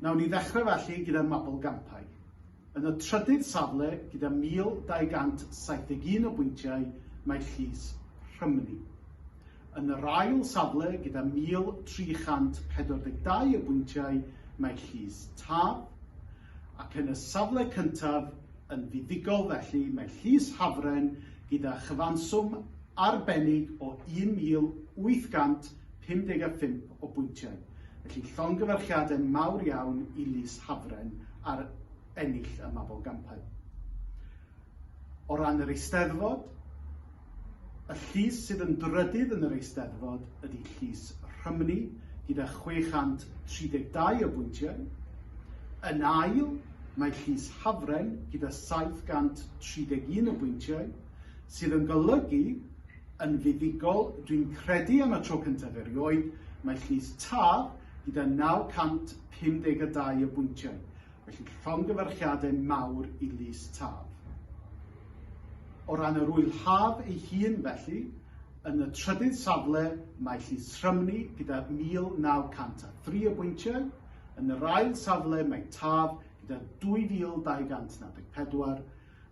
Nawn ni ddechrau felly gyda Mabolgampau. Yn y trydydd safle gyda 1,271 o bwyntiau mae Llys Rhymni. Yn yr ail safle gyda 1,342 o bwyntiau mae Llys Taf, ac yn y safle cyntaf yn fuddugol felly mae Llys Hafren gyda chyfanswm arbennig o 1,800 55 o bwyntiau, felly llongyfarchiadau mawr iawn i Lys Hafren ar ennill y Mabolgampau. O ran yr Eisteddfod, y llys sydd yn drydydd yn yr Eisteddfod ydy Llys Rhymni gyda 632 o bwyntiau. Yn ail, mae Llys Hafren gyda 731 o bwyntiau, sydd yn golygu Yn fuddugol, dwi'n credu am y tro cyntaf erioed, mae Llys Taf gyda 952 o bwyntiau, felly llongyfarchiadau mawr i Lys Taf. O ran yr Ŵyl Haf ei hun felly, yn y trydydd safle mae Llys Rhymni gyda 1903 o bwyntiau, yn yr ail safle mae Taf gyda 2244,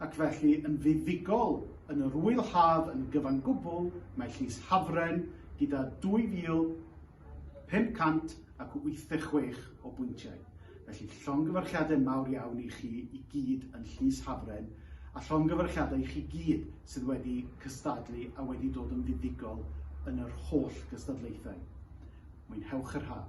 ac felly yn fuddugol yn yr ŵyl haf yn gyfan gwbl, mae Llys Hafren gyda 2,586 o bwyntiau. Felly, llongyfarchiadau mawr iawn i chi i gyd yn Llys Hafren, a llongyfarchiadau i chi gyd sydd wedi cystadlu a wedi dod yn fuddugol yn yr holl gystadlaethau. Mwynhewch yr haf!